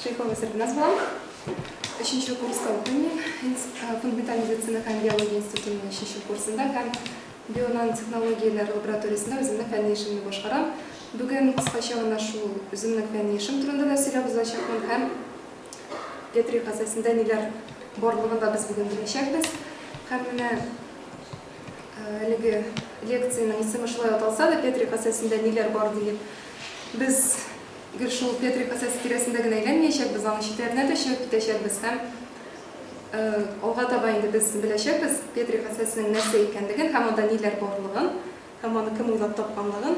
Шейхова Сәрбиназ булам. Өченче курста укыйм мин. Э, фундаменталь медицина һәм биология институтының өченче курсында һәм бионанотехнологияләр лабораториясендә үземнең фәнни эшемне башкарам. Бүген кыскача гына шул үземнең фәнни эшем турында да сөйләп узачакмын һәм Петри хәсәсендә ниләр барлыгын да без бүген беләчәкбез. Һәм менә Әлеге лекциянең исеме шулай аталса да, Петрик Асәсендә ниләр бар диеп, без гел шул Петрик Асәсе тирәсендә генә әйләнмәячәкбез, аның читләренә дә чыгып китәчәкбез һәм алга таба инде без беләчәкбез Петрик Асәсенең нәрсә икәнлеген һәм анда ниләр барлыгын һәм аны кем уйлап тапканлыгын.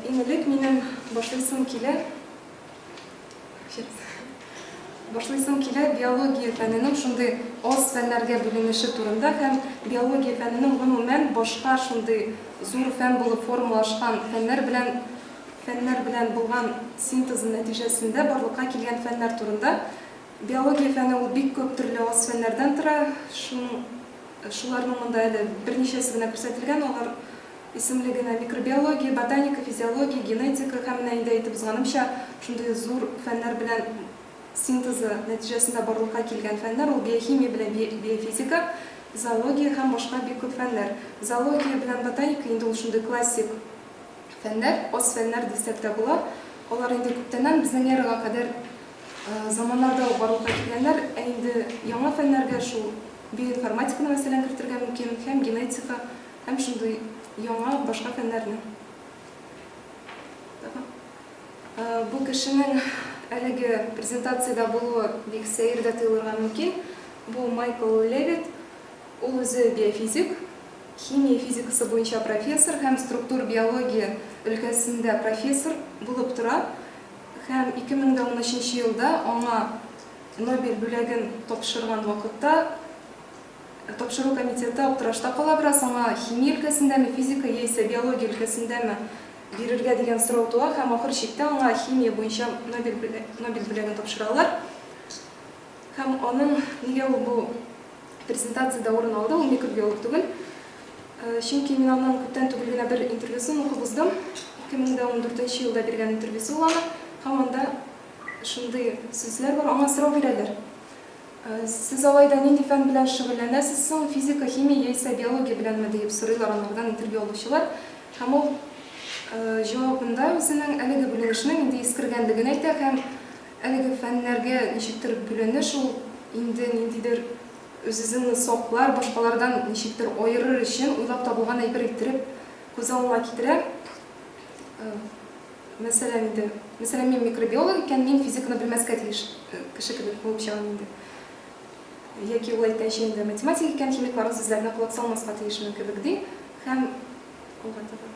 Иң элек минем башлыйсым килә. Башлыйсың килә биология фәненең шундый аз фәннәргә бүленеше турында һәм биология фәненең гомумән башка шундый зур фән булып формалашкан фәннәр белән фәннәр белән булган синтезы нәтиҗәсендә барлыкка килгән фәннәр турында. Биология фәне ул бик күп төрле аз фәннәрдән тора, шуның шуларның монда әле берничәсе генә күрсәтелгән, алар Исемлегенә, микробиология, ботаника, физиология, генетика һәм менә инде әйтеп узганымча, шундый зур фәннәр белән синтезы нәтиҗәсендә барлыкка килгән фәннәр, ул биохимия белән би биофизика, зоология һәм башка бик күп фәннәр. Зоология белән ботаника инде ул шундый классик фәннәр, ас фәннәр дисәк тә була. Алар инде күптәннән, безнең эрага кадәр заманнарда ук барлыкка килгәннәр. Ә инде яңа фәннәргә шул биоинформатиканы мәсәлән кертергә мөмкин һәм генетика, Һәм шундый яңа, башка фәннәрне. Бу кешенең әлеге презентациядә булуы бик сәер дә тоелырга мөмкин. Бу Майкл Левит. Ул үзе биофизик, химия физикасы буенча профессор һәм структур биология өлкәсендә профессор булып тора һәм 2013 елда аңа Нобель бүләген тапшырган вакытта, Тапшыру комитеты аптырашта кала бераз, аңа химия өлкәсендәме, физика яисә биология өлкәсендәме бирергә дигән сорау туа һәм ахыр чиктә аңа химия буенча Нобель Нобель бүләген тапшыралар. Һәм аның нигә ул бу презентациядә урын алды, ул микробиолог түгел. Чөнки мин аның күптән түгел генә бер интервьюсын укып уздым. 2014 елда биргән интервьюсы ул аның һәм анда шундый сүзләр бар, аңа сорау бирәләр. Сез алай да нинди фән белән шөгыльләнәсез соң, физика, химия яисә биология беләнме? диеп сорыйлар анардан интервью алучылар. Һәм ул җавабында үзенең әлеге бүленешнең инде искергәнлеген әйтә һәм әлеге фәннәргә ничектер бүленеш ул инде ниндидер үзезеңне саклар, башкалардан ничектер аерыр өчен уйлап табылган әйбер иттереп күз алына китерә. Мәсәлән, инде, мәсәлән, мин микробиолог икән, мин физиканы белмәскә тиеш кеше кебек булып чыгам инде. Яки ул әйткәнчә инде математик икән, химик барлык сүзләренә колак салмаска тиешмен кебек ди һәм алга таба.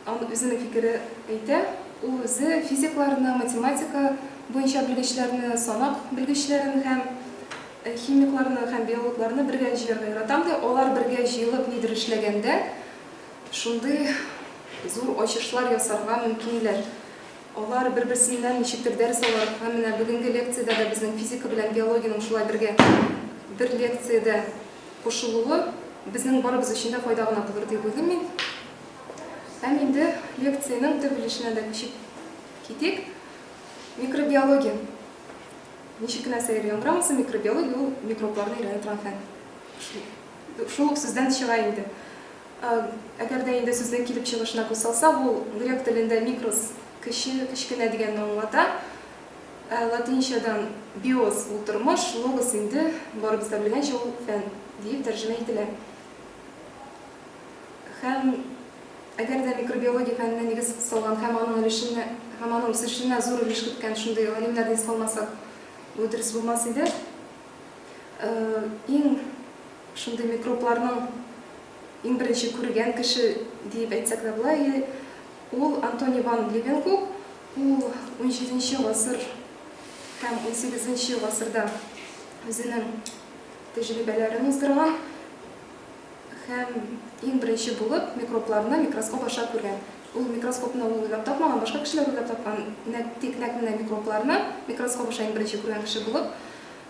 Аны үзенең фикере әйтә, ул үзе физикларны, математика буенча белгечләрне, санак белгечләрен һәм э, химикларны һәм биологларны бергә җыярга яратам ди. Алар бергә җыелып нидер эшләгәндә, Шундый зур ачышлар ясарга мөмкинләр. Алар бер-берсеннән ничектер дәрес алар һәм менә бүгенге лекциядә дә безнең физика белән биологиянең шулай бергә бер лекциядә кушылуы безнең барыбыз өчен дә файда гына булыр дип уйлыйм мин. Һәм инде лекциянең төп өлешенә дә күчеп китик. Микробиология. Ничек кенә сәер яңгырамасын, микробиология ул микробларны өйрәнә торган фән. Шул ук сүздән чыга инде. Әгәр дә инде сүзнең килеп чыгышына күз салсак, ул грек телендә микрос, кече, кечкенә дигәнне аңлата. Ә латинчадан биос, ул тормыш, логос инде, барыбыз да белгәнчә, ул фән, диеп тәрҗемә ителә. Һәм әгәр дә микробиология фәненә нигез салган һәм аның өлешенә, һәм аның үсешенә зур өлеш керткән шундый галимнәрне искә алмасак, бу дөрес булмас иде. Иң шундый микробларның иң беренче күргән кеше диеп әйтсәк тә була, ул Антони ван Левенгук, ул 17 гасыр һәм 18 гасырда үзенең тәҗрибәләрен уздырган һәм иң беренче булып микробларны микроскоп аша күргән. Ул микроскопны ул уйлап тапмаган, башка кешеләр уйлап тапкан, нәкъ, тик нәкъ менә микробларны микроскоп аша иң беренче күргән кеше булып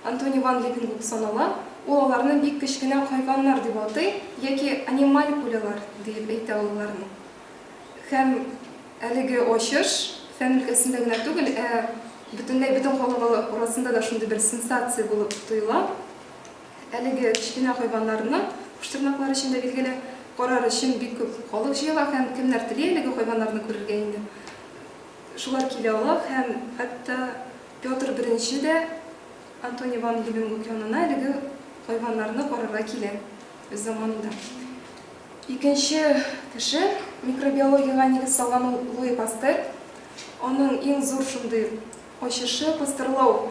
Антони ван Левенгук санала. Ул аларны бик кечкенә хайваннар дип атый, яки анималькулялар диеп әйтә ул аларны. Һәм әлеге ачыш фән өлкәсендә генә түгел, ә бөтенләй бөтен халык арасында да шундый бер сенсация булып тоела. Әлеге кечкенә хайваннарны, куштырнаклар өчен дә билгеле, карар өчен бик күп халык җыела һәм кемнәр тели әлеге хайваннарны күрергә инде, шулар килә ала һәм хәтта Петр I дә Антоний ван Левенгук янына әлеге хайваннарны карарга килә. Без заманында икенче кеше микробиологиягә нигез салган ул Луи Пастер. Аның иң зур шундый ачышы, пастерлау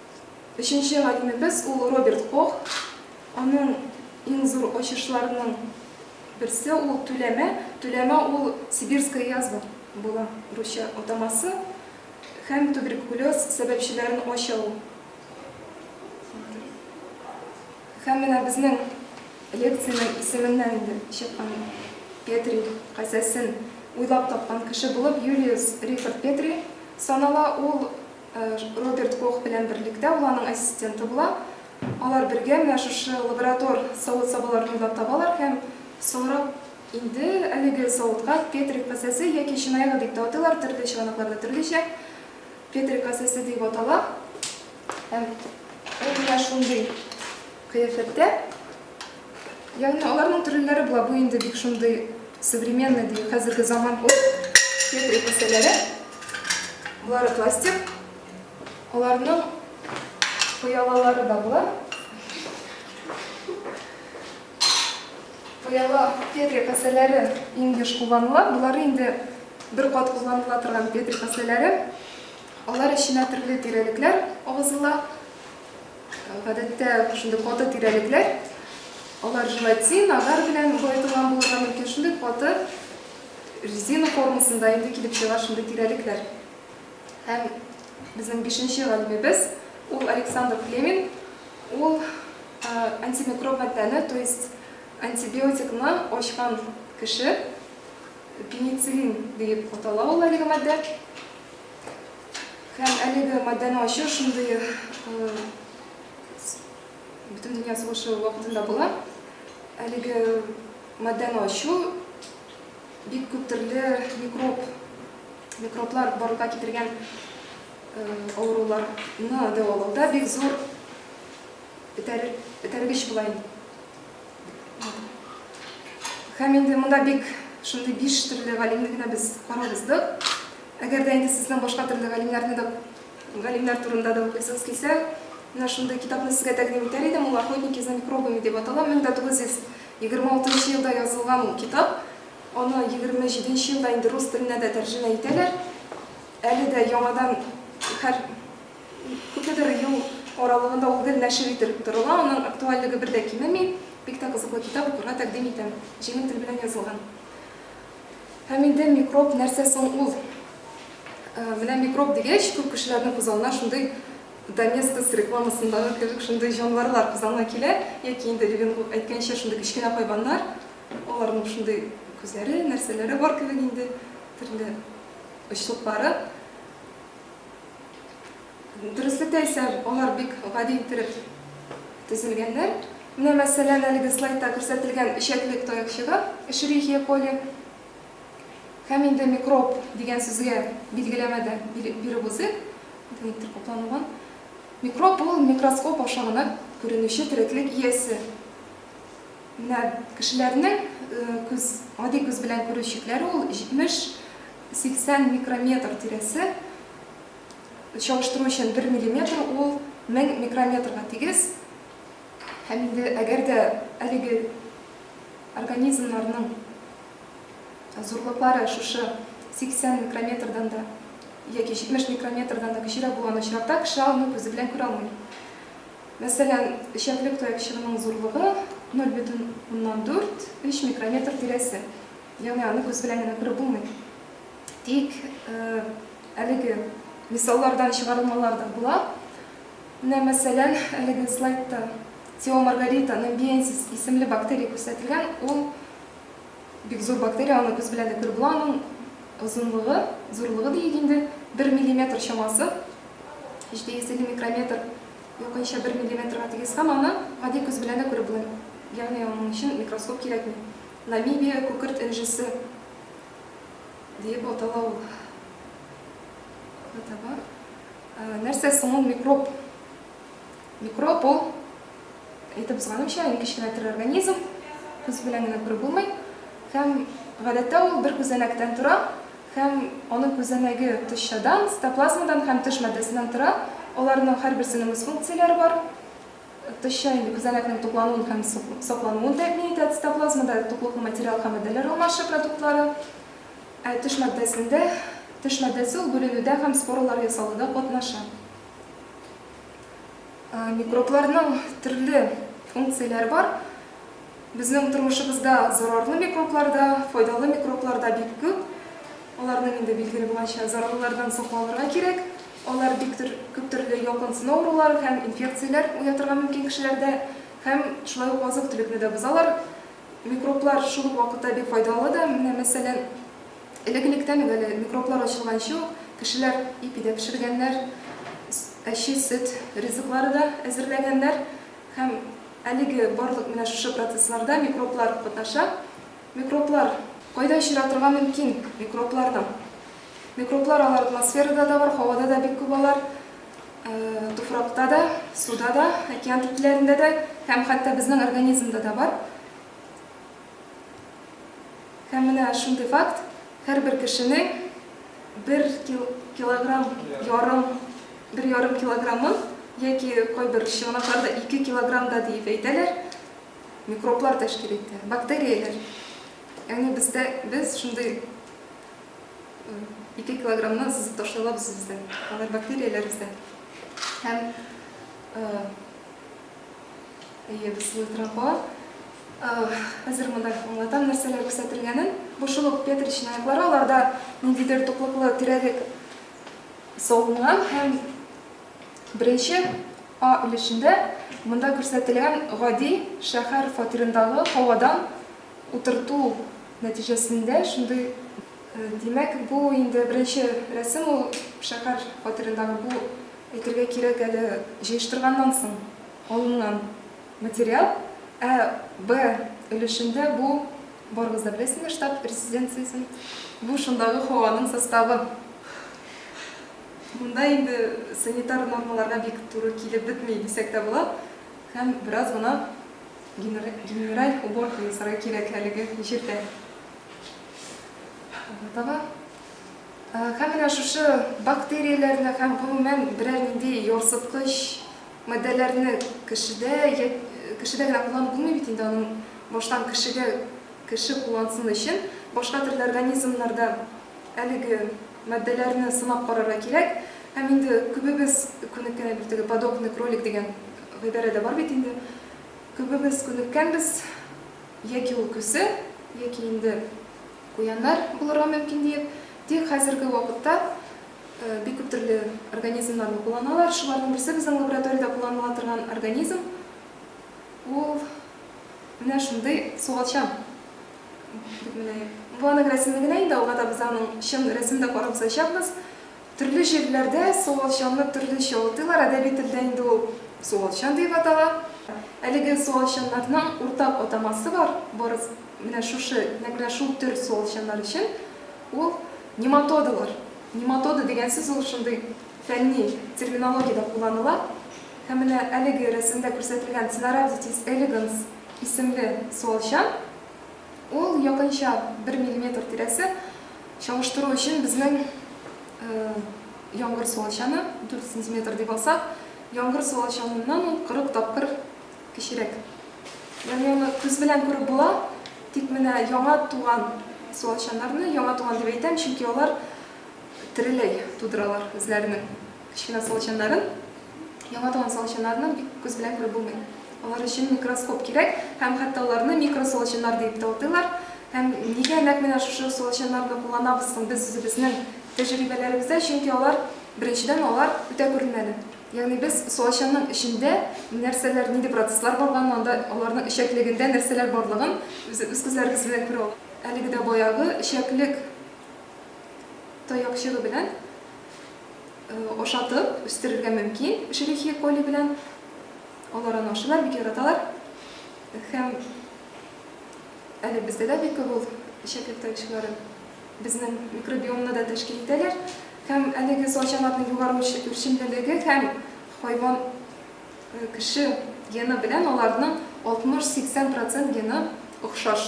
Өченче галимебез ул Роберт Кох. Аның иң зур ачышларының берсе ул Түләмә. Түләмә ул сибирская язва була, русча атамасы, һәм туберкулез сәбәпчеләрен ача ул. Һәм менә безнең лекциянең исеменнән инде чыккан Петри касәсен уйлап тапкан кеше булып Юлиус Рихард Петри санала. Ул Роберт Кох белән берлектә ул аның ассистенты була. Алар бергә менә шушы лаборатор савыт-сабаларны уйлап табалар һәм соңрак инде әлеге савытка Петрик касәсе яки чынаягы дип тә атыйлар, төрле чыганакларда төрлечә, Петрик касәсе диеп атала. Һәм ул менә шундый кыяфәттә. Ягъни аларның төреннәре була, бу инде бик шундый современный ди, хәзерге заман ул фетри кесәләре. Булары пластик. Аларның пыялалары да була. Пыяла фетри кесәләре инде кулланыла. Булары инде бер кат кулланыла торган фетри кесәләре. Алар эченә төрле тирәлекләр агызыла. Гадәттә шундый каты тирәлекләр, алар желатин, агар белән баетылган булырга мөмкин. Шундый каты резина формасында инде килеп чыга шундый тирәлекләр. Һәм безнең бишенче галимебез, ул Александр Флеминг, ул антимикроб матдәне, то есть антибиотикны ачкан кеше, пенициллин дип атала ул әлеге матдә. Һәм әлеге маддәне ачу шундый э, бөтен дөнья сугышы вакытында була. Әлеге маддәне ачу бик күп төрле микроб, микроблар барлыкка китергән э, авыруларны дәвалауда бик зур этәргеч була Һәм инде монда бик шундый биш төрле галимне генә без карап уздык. Әгәр дә инде сезнең башка төрле галимнәрне дә галимнәр турында да укыйсыз килсә, менә шундый китапны сезгә тәкъдим итәр идем. Ул Охотники за микробами дип атала. 1926 елда язылган ул китап. Аны 27 елда инде рус теленә дә тәрҗемә итәләр. Әле дә яңадан һәр Күпмедер ел аралыгында ул гел нәшер ителеп торыла, аның актуальлеге бер дә кимеми. Бик тә кызыклы китап, укырга тәкъдим итәм. Җиңел тел белән язылган. Һәм инде микроб нәрсә соң ул? Менә микроб дигәч, күп кешеләрнең күз алдына шундый Доместос рекламасындагы кебек шундый җанварлар күз алдына килә, яки инде Левин әйткәнчә, шундый кечкенә хайваннар, аларның шундый күзләре, нәрсәләре бар кебек инде, төрле очлыклары. Дөреслекте әйтсәм, алар бик гади иттереп төзелгәннәр. Менә, мәсәлән, әлеге слайдта күрсәтелгән эчәклек таякчыгы, Эшерихия коли. Һәм инде микроб дигән сүзгә билгеләмә дә биреп узыйк. Никтер капланылган. Микроб ул микроскоп аша гына күренүче тереклек иясе. Менә кешеләрнең күз, гади күз белән күрү чикләре ул 70 80 микрометр тирәсе, чалыштыру өчен 1 миллиметр ул 1000 микрометрга тигез. Һәм инде әгәр дә әлеге организмнарның зурлыклары шушы 80 микрометрдан да яки 70 микрометрдан да кечерәк булган очракта кеше аны күзе белән күрә алмый. Мәсәлән, эчәклек таякчыгының зурлыгы 0,4-3 микрометр тирәсе. Ягъни аны күз белән генә күреп булмый. Тик әлеге мисаллардан чыгарылмалар да була. Менә мәсәлән, әлеге слайдта Тео Маргарита Намбиенсис исемле бактерия күрсәтелгән. Ул бик зур бактерия, аны күз белән дә күреп була. Аның озынлыгы, зурлыгы диик инде, 1 миллиметр чамасы. 750 микрометр якынча 1 миллиметрга тигез һәм аны гади күз белән дә күреп була. Ягъни аның өчен микроскоп кирәкми. Намибия күкерт энҗесе диеп атала ул. Атама. Нәрсә соң ул микроб? Микроб ул, әйтеп узганымча, иң кечкенә тере организм, күз белән генә күреп булмый. Һәм гадәттә ул бер күзәнәктән тора, һәм аның күзәнәге тышчадан, цитоплазмадан һәм тыш матдәсеннән тора. Аларның һәрберсенең үз функцияләре бар. Тышча инде күзәнәкнең туклануын һәм саклануын тәэмин итә. Цитоплазмада туклыклы материал һәм матдәләр алмашы продуктлары. Ә тыш матдәсендә? Тыш матдәсе ул бүленүдә һәм споралар ясалуда катнаша. Микробларның төрле функцияләре бар. Безнең тормышыбызда зарарлы микроблар да, файдалы микроблар да бик күп. Аларның инде билгеле булганча, зарарлылардан сакланырга кирәк. Алар бик күп төрле ялкынсыну авырулары һәм инфекцияләр уятырга мөмкин кешеләрдә һәм шулай ук азык-төлекне дә бозалар. Микроблар шул ук вакытта бик файдалы да. Менә, мәсәлән, элек-электән үк әле микроблар ачылганчы ук кешеләр ипи дә пешергәннәр, әче сөт ризыклары да әзерләгәннәр һәм әлеге барлык менә шушы процессларда микроблар катнаша. Микроблар. Кайда очратырга мөмкин микробларны? Микроблар алар атмосферада да бар, һавада да бик күп алар, туфракта да, суда да, океан төпләрендә дә һәм хәтта безнең организмда да бар. Һәм менә шундый факт, һәрбер кешенең бер килограмм ярым, бер ярым килограммын яки кайбер чыганакларда 2 килограмм да диеп әйтәләр, микроблар тәшкил итә, бактерияләр. Ягъни бездә без шундый 2 килограммны сызып ташлыйлар без бездә. Алар бактерияләр бездә. Һәм әйе, без сылы тора кала. Хәзер монда аңлатам нәрсәләр күрсәтелгәнен. Бу шулык петричный яклары, аларда ниндидер туклыклы тирәлек салынган һәм беренче А өлешендә монда күрсәтелгән гади шәһәр фатирындагы һавадан Утырту нәтиҗәсендә шундый. Димәк, бу инде беренче рәсем ул шәһәр фатирындагы. Бу, әйтергә кирәк әле, җыештырганнан соң алынган материал. Ә Б өлешендә бу, барыгыз да беләсездер штаб резиденциясен. Бу шундагы һаваның составы. Монда инде санитар нормаларга бик туры килеп бетми, дисәк тә була. Һәм бераз гына Генераль уборканы сорый кирәклелеге ишетә. Таба. Һәм менә шушы бактерияләрне һәм гомумән берәр нинди ярсыткыч матдәләрне кешедә кешедә генә кулланып булмый бит инде аның баштан кешегә кеше куллансын өчен башка төрле организмнарда әлеге матдәләрне сынап карарга кирәк. Һәм инде күбебез күнеккән әлбәттә подобный кролик дигән гыйбарә дә бар бит инде. Күбебез күнеккәнбез, яки ул күсе, яки инде куяннар булырга мөмкин диеп. Тик хәзерге вакытта бик күп төрле организмнарны кулланалар. Шуларның берсе безнең лабораториядә кулланыла торган организм. Ул менә шундый суалчан. Бу аның рәсеме генә инде, алга да без аның чын рәсемен дә карап узачакбыз. Төрле җирләрдә суалчанны төрлечә атыйлар, әдәби телдә инде ул суалчан диеп атала. Әлеге суалчаннарның уртак атамасы бар, барысы, менә шушы, нәкъ шул төр суалчаннар өчен, ул нематодалар. Нематода дигән сүз ул шундый фәнни терминологиядә кулланыла. Һәм менә әлеге рәсемдә күрсәтелгән Ценорhabditis elegans исемле суалчан, ул якынча бер миллиметр тирәсе, Чагыштыру өчен безнең яңгыр суалчаны, 4 сантиметр дип алсак, яңгыр суалчаныннан ул 40 тапкыр кечерәк. Ягъни аны күз белән күреп була, тик менә яңа туган суалчаннарны, яңа туган дип әйтәм, чөнки алар тереләй тудыралар үзләренең кечкенә суалчаннарын. Яңа туган суалчаннарны бик күз белән күреп булмый. Алар өчен микроскоп кирәк, һәм хәтта аларны микросуалчаннар дип тә атыйлар. Һәм нигә нәкъ менә шушы ысулчаннарны кулланабыз соң без үзебезнең тәҗрибәләребездә? Чөнки алар, беренчедән, алар үтә күренмәле. Ягъни без ысулчанның эчендә нәрсәләр, нинди процесслар барганын, анда аларның эчәклегендә нәрсәләр барлыгын үз күзләребез белән күрә алабыз. Әлеге дә баягы эчәклек таякчыгы белән ашатып үстерергә мөмкин, Эшерихия коли белән. Алар аны ашыйлар, бик яраталар. Һәм. Әле бездә дә бик күп ул эчәклек таекчылары. Безнең микробиомны да тәшкил итәләр. Һәм әлеге саучанарның югары үрчемлелеге һәм хайван, кеше гены белән аларның 60-80 процент гены охшаш.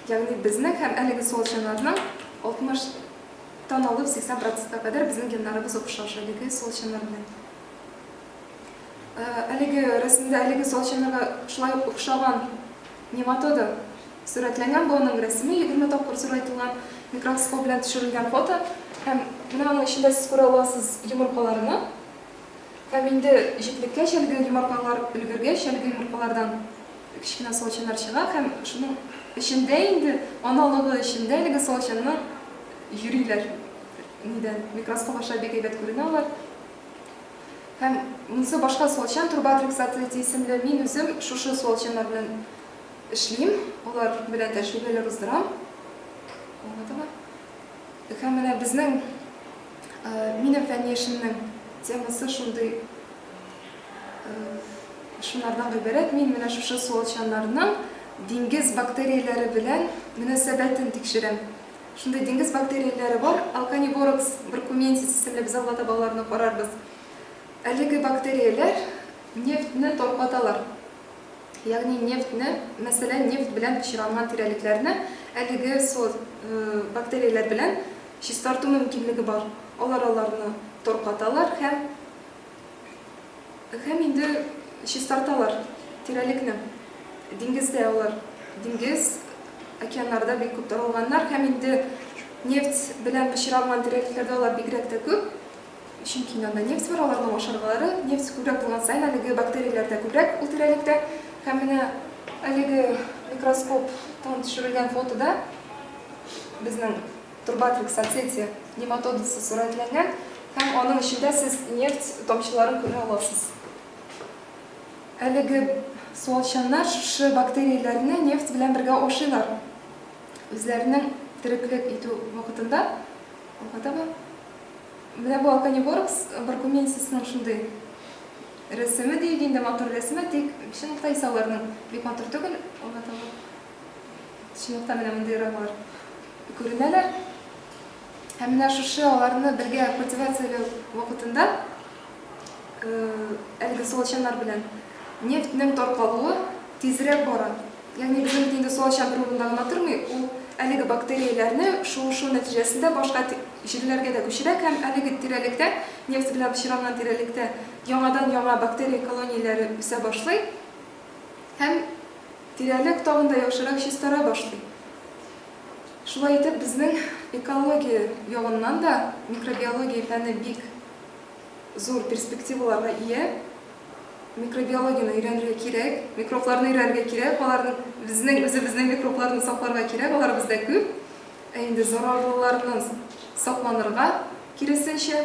Ягъни безнең һәм әлеге саучанарның 60 тан алып 80 процентка кадәр безнең геннарыбыз охшаш әлеге саучанар белән. Әлеге рәсемдә әлеге салчанырга шулай ук охшаган нематода сурәтләнгән. Бу аның рәсеме, егерме тапкыр зурайтылган микроскоп белән төшерелгән фото. Һәм менә аның эчендә сез күрә аласыз йомыркаларны. Һәм инде җитлеккәч, әлеге йомыркалар өлгергәч, әлеге йомыркалардан кечкенә салчаннар чыга һәм шуның эчендә инде, аналыгы эчендә әлеге салчанның йөриләр. Нидән микроскоп аша бик әйбәт күренә алар. Һәм монсы башка суалчан труба трексатоиде исемле, мин үзем шушы суалчаннар белән эшлим, алар белән тәҗрибәләр уздырам. Аңладыңмы? Һәм менә безнең минем фәнни эшемнең темасы шундый шуннардан гыйбарәт, мин менә шушы суалчаннарның диңгез бактерияләре белән мөнәсәбәтен тикшерәм. Шундый диңгез бактерияләре бар, Alcaniborox burkumensis исемле, без алда таба аларны карарбыз. Әлеге бактерияләр нефтьне таркаталар. Ягъни нефтьне, мәсәлән, нефть белән пычранган тирәлекләрне әлеге сорт бактерияләр белән чистарту мөмкинлеге бар. Алар аларны таркаталар һәм Һәм инде чистарталар тирәлекне. Диңгездә алар, диңгез, океаннарда бик күп таралганнар һәм инде нефть белән пычранган тирәлекләрдә алар бигрәк тә күп, чөнки инде анда нефть бар, аларның ашаргалары. Нефть күбрәк булган саен, әлеге бактерияләр дә күбрәк ул тирәлектә. Һәм менә әлеге микроскоптан төшерелгән фотода безнең Турбатрик соцсете нематодасы сурәтләнгән һәм аның эчендә сез нефть тамчыларын күрә аласыз. Әлеге суалчаннар шушы бактерияләрне нефть белән бергә ашыйлар. Үзләренең тереклек итү вакытында, укытаба, менә бу Алканиборкс баркуменсисның шундый рәсеме диик инде, матур рәсеме, тик чынлыкта исә аларның бик матур түгел, укытаба. Шунлыктан менә мондый эраннар күренәләр. Һәм менә шушы аларны бергә культивацияләү вакытында әлеге суалчаннар белән нефтьнең таркалуы тизрәк бара. Ягъни безнең бит инде суалчан бер урында гына тормый, ул әлеге бактерияләрне шуышу нәтиҗәсендә башка җирләргә дә күчерә һәм әлеге тирәлектә, нефть белән пычранган тирәлектә яңадан-яңа бактерия колонияләре үсә башлый. Һәм тирәлек тагын да яхшырак чистара башлый. Шулай итеп, безнең экология ягыннан да микробиология фәне бик зур перспективаларга ия. Микробиологияне өйрәнергә кирәк, микробларны өйрәнергә кирәк, аларны, безнең үзебезнең микробларны сакларга кирәк, алар бездә күп. Ә инде зарарлыларны сакланырга, киресенчә,